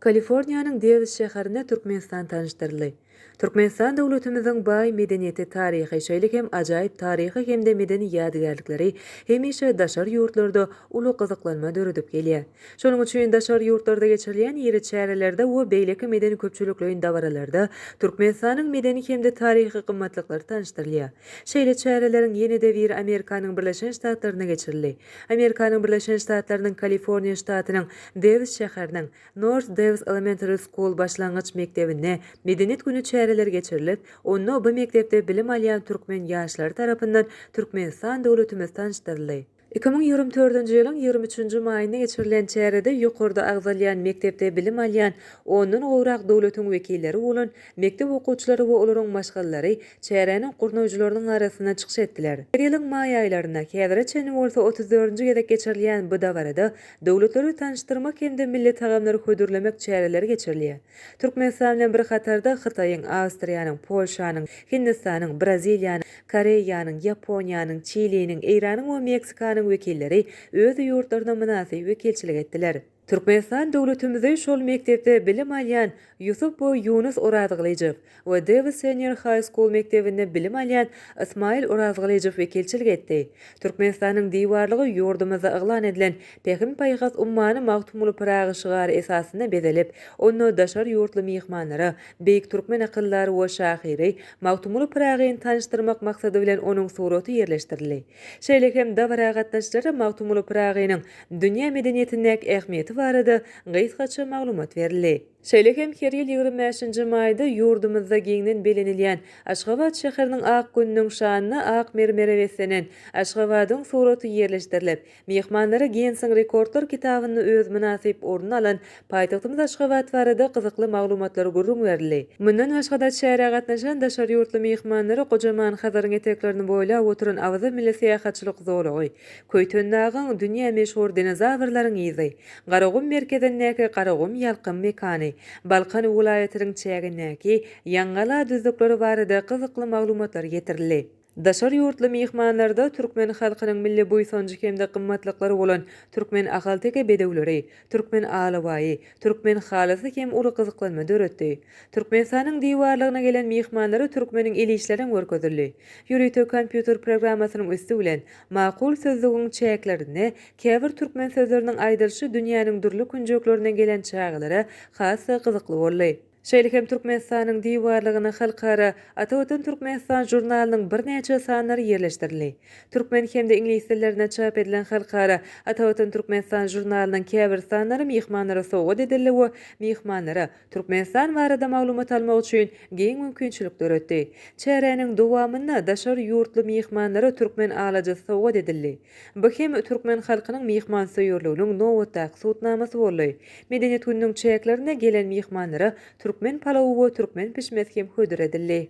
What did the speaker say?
Kaliforniýanyň Dewis şäherinde Türkmenistan tanyşdyryldy. Türkmenistan döwletimiziň baý medeniýeti, taryhy, şeýle hem ajaýyp taryhy hem-de medeni ýadygärlikleri hemişe daşary ýurtlarda uly gyzyklanma döredip gelýär. Şonuň üçin daşary ýurtlarda geçirilýän iri çärelerde we beýleki medeni-köpçülikleýin dabaralarda Türkmenistanyň medeni hem-de taryhy gymmatlyklary tanyşdyrylýar. Şeýle çäreleriň ýene-de biri Amerikanyň Birleşen Ştatlarynda geçirildi. Amerikanyň Birleşen Ştatlarynyň Kaliforniýa ştatynyň Dewis şäheriniň North Dewis Elementary School başlangyç mekdebinde Medeniýet güni çäreleri geçirilip, onda bu mekdepde bilim alýan türkmen ýaşlary tarapyndan Türkmenistan döwletimiz tanyşdyryldy. Iki müň ýigrimi dördünji ýylyň ýigrimi üçünji maýynda geçirilen çärede ýokarda agzalýan mekdepde bilim alýan ondan gowrak döwletiň wekilleri bolan mekdep okuwçylary we olaryň maşgalalary çäräniň gurnaýjylarynyň arasynda çykyş etdiler. Her ýylyň maý aýlarynda, häzire çenli bolsa otuz dördünji gezek geçirilýän bu dabarada döwletleri tanyşdyrmak hem-de milli tagamlary hödürlemek çäreleri geçirilýär. Türkmenistan bilen bir hatarda Hytaýyň, Awstriýanyň, Polşanyň, Hindistanyň, Braziliýanyň, Koreýanyň, Ýaponiýanyň, Çiliniň, Eýranyň we Meksikanyň wekilleri öz ýurtlarynda mynasyp wekilçilik etdiler. Türkmenistan döwletimizi şol mekdepde bilim alýan Ýusup we Ýunus Orazgylyjow we Davis Senior High School mekdebinde bilim alýan Ysmaýyl Orazgylyjow wekilçilik etdi. Türkmenistanyň diwarlygy ýurdumyzda yglan edilen Pähim-paýhas ummany Magtymguly Pyragy şygary esasynda bezelip, onda daşary ýurtly myhmanlara beýik türkmen akyldary we şahyry Magtymguly Pyragyny tanyşdyrmak maksady bilen onuň suraty ýerleşdirildi. Şeýle hem dabara gatnaşyjylara Magtymguly Pyragynyň dünýä medeniýetindäki ähmiýeti barada gysgaça maglumat berildi. Şeýle hem her ýyl ýigrimi bäşinji maýda ýurdumyzda giňden belenilýän Aşgabat şäheriniň ak gününiň şanyna ak mermere beslenen Aşgabadyň suraty ýerleşdirilip, myhmanlara Ginnesiň rekordlar kitabynda öz mynasyp ornuny alan Paýtagtymyz Aşgabat barada gyzykly maglumatlar gürrüň berildi. Mundan başga-da, çärä gatnaşan daşary ýurtly myhmanlara gojaman Hazaryň eteklerini boýlap oturan Awaza milli syýahatçylyk zolagy, Köýtendagyň, dünýä meşhur dinozawrlaryň yzy, Garagum merkezindäki Garagum ýalkym mekany, Balkan welaýatynyň çägindäki Ýaňgala düzlükleri barada gyzykly maglumatlar getirildi. Daşary ýurtly myhmanlarda türkmen halkynyň milli buýsanjy hem-de gymmatlyklary bolan türkmen ahalteke bedewleri, türkmen alabaýy, türkmen halysy hem uly gyzyklanma döretdi. Türkmenistanyň diwarlygyna gelen myhmanlara türkmeniň el işlerem görkezildi. Ýörite kompýuter programmasynyň üsti bilen Makul sözlügiň çäklerinde käbir türkmen sözleriniň aýdylyşy dünýäniň dürli künjeklerine gelen çagalara has-da gyzykly boldy. Şeýle hem Türkmenistanyň diwarlygyna halkara Ata Watan Türkmenistan žurnalynyň birnäçe sanlary ýerleşdirildi. Türkmen hem-de iňlis dillerinde çap edilen halkara Ata Watan Türkmenistan žurnalynyň käbir sanlary myhmanlara sowgat edildi we myhmanlara Türkmenistan barada maglumat almak üçin giň mümkinçilik döretdi. Çäräniň dowamynda daşary ýurtly myhmanlara türkmen alajysy sowgat edildi. Bu hem türkmen halkynyň myhmansöýerliginiň nobatdaky subutnamasy boldy. Medeniýet gününiň çäklerinde gelen myhmanlara türkmen palawy we türkmen pişmesi hem hödür edildi.